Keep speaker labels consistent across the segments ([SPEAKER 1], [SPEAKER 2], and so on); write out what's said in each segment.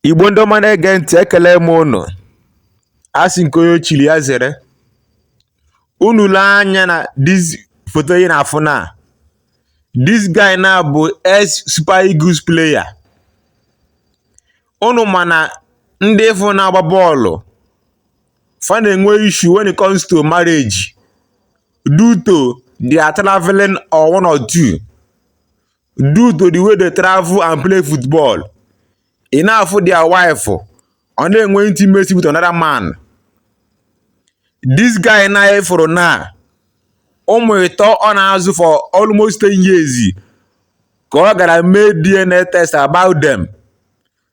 [SPEAKER 1] Igbo ndị ọma na-ege ntị ekele m unu a sị nke onye chiri ya zere unu lee anya na this foto ị na-afụ na this guy na bụ ex super eagles player unu ma na ndị ị fụ na-agba bọọlụ fa na-enwe issue when it comes to marriage due to their traveling or one or two due to the way they travel and play football ị na-afụ their wife ọ na-enwe intimacy with another man this guy na anyị fụrụ na ụmụ ịtọ ọ na-azụ for almost 10 years ka ọ gara mee DNA test about them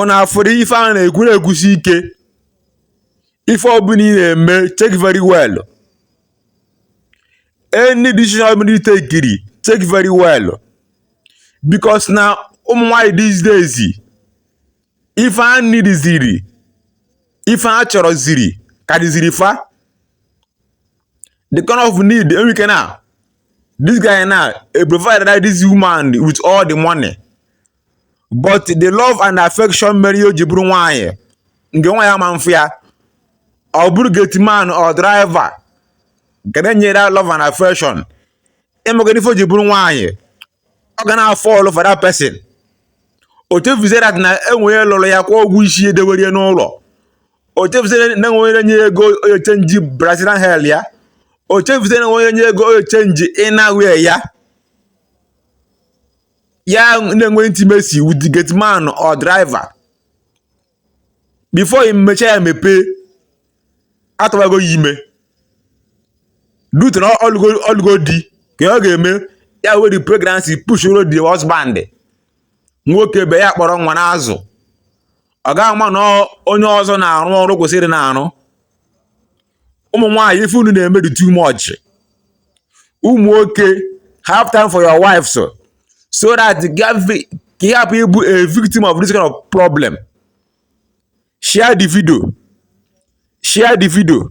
[SPEAKER 1] Unu afụrụ ife a na-ekwu na-ekwusi ike ife ọbụla ị na-eme check very well any decision ọbụla ị tekiri check very well because na ụmụ nwaanyị these days ife a nidiziri ife a chọrọziri karịziri fa the kind of need e nwe ike na this guy na-eprovide this woman with all the money but the love and affection mere ya o ji bụrụ nwaanyị nke nwa ya ma mfụ ya ọ bụrụ gate man or driver nke na-enye that love and affection ị mago na ife o ji bụrụ nwaanyị ọ ga na-afall for that person o chefuzie that na e nwe onye lụrụ ya kwụọ ụgwọ isi ya dewere ya n'ụlọ o chefuzie na e nwere onye ego o ji echange brazilian hair ya o chefuzie na e nwere onye ego o ji echange inner wear ya ya na-enwe intimacy with the gate man or driver before i mechie anya mepee a tụbago ya ime due to na ọ lụgo di ka ọ ga-eme ya were pregnancy pushuoro the husband nwoke be ya kpọrọ nwa na-azụ ọ gaghị ama na onye ọzọ na-arụ ọrụ o kwesịrị na-arụ ụmụ nwaanyị ife unu na-eme dị too much ụmụ nwoke have time for your wives so that ka ị hapụ ịbụ a victim of this kind of problem share the video share the video